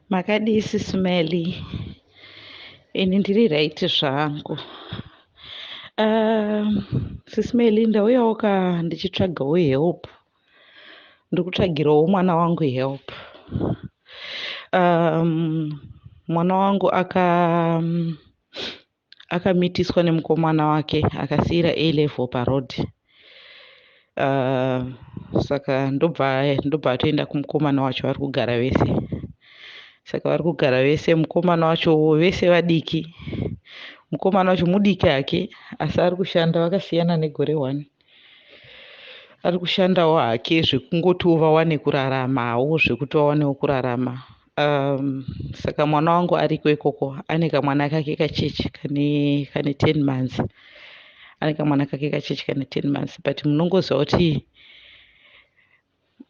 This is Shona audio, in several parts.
Makadii sisi Melly? Ini ndiri right zvangu. Um, sisi Melly ndauyawo ka ndichitsvagawo help. Ndiri kutsvagirawo mwana wangu help. Um, mwana wangu aka um, akamitiswa nemukomana wake akasiira a level paroad uh, saka ndobva ndobva atoenda kumukomana wacho vari kugara vese saka vari kugara vese mukomana wacho vese vadiki mukomana wacho mudiki hake asi ari kushanda vakasiyana negore one ari kushandawo hake zvekungotiwo vawane kuraramawo zvekuti vawanewo kurarama um, saka mwana wangu ariko ikoko ane kamwana kake kachechi kane kane ten months ane kamwana kake kachechi kane ten months but munongoziva kuti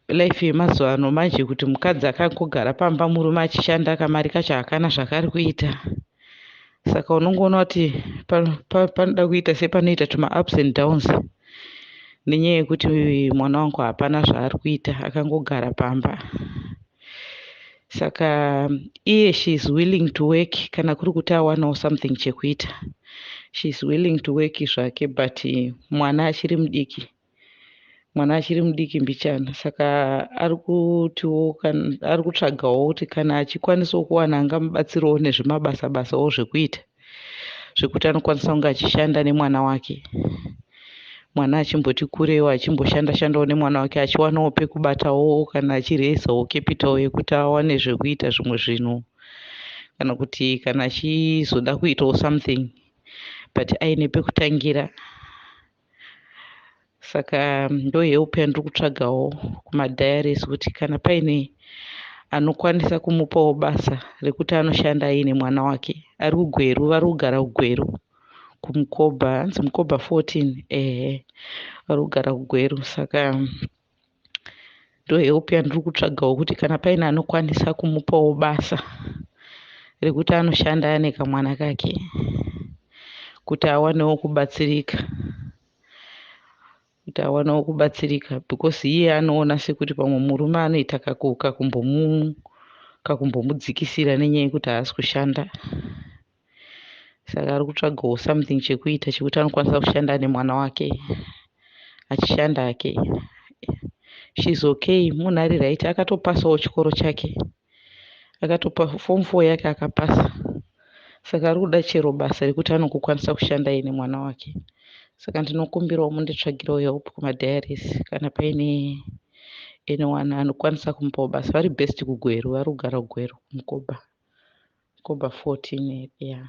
life yemazuva ano manje kuti mukadzi akangogara pamba murume achishanda kamari kacho hakana zvaakari kuita saka unongoona kuti panoda kuita sepanoita tuma ups and downs nenyaya yekuti mwana wangu hapana zvaari kuita akangogara pamba saka iye she is willing to work kana kuri kuti awanawo something chekuita she is willing to work zvake but mwana achiri mudiki mwana achiri mudiki mbichana saka ari kutiwo ari kutsvagawo kuti kana achikwanisawo kuwana angamubatsirawo nezvemabasa basawo zvekuita zvekuti anokwanisa kunge achishanda nemwana wake mwana achimboti kurewo achimboshanda shandawo nemwana wake achiwanawo pekubatawo kana achireesawo capital yekuti awane zvekuita zvimwe zvinhu kana kuti kana achizoda kuitawo something but aine pekutangira saka ndohe upenyu ndiri kutsvagawo kumadiaries kuti kana paine anokwanisa kumupawo basa rekuti anoshanda aine mwana wake ari kugweru vari kugara kugweru kumukoba hanzi mukoba 14 ehe vari kugara kugweru saka ndo help yandiri kutsvagawo kuti kana paine anokwanisa kumupawo basa rekuti anoshanda ane kamwana kake kuti awanewo kubatsirika kuti awanewo kubatsirika because iye anoona sekuti pamwe murume anoita kakumbomu kakumbomudzikisira nenyaya yekuti haasi kushanda saka ari kutsvagawo something chekuita chekuti anokwanisa kushanda nemwana wake achishanda hake shes okay munhu ari right akatopasawo chikoro chake akatopa form four yake akapasa saka ari kuda chero basa rekuti anokukwanisa kushanda ye nemwana wake saka ndinokumbirawo munditsvagirewo help kumadiaris kana paine pa anyone anokwanisa kumupao basa vari best kugweru vari kugara kugweru kumkoba mkoba 14 ya yeah.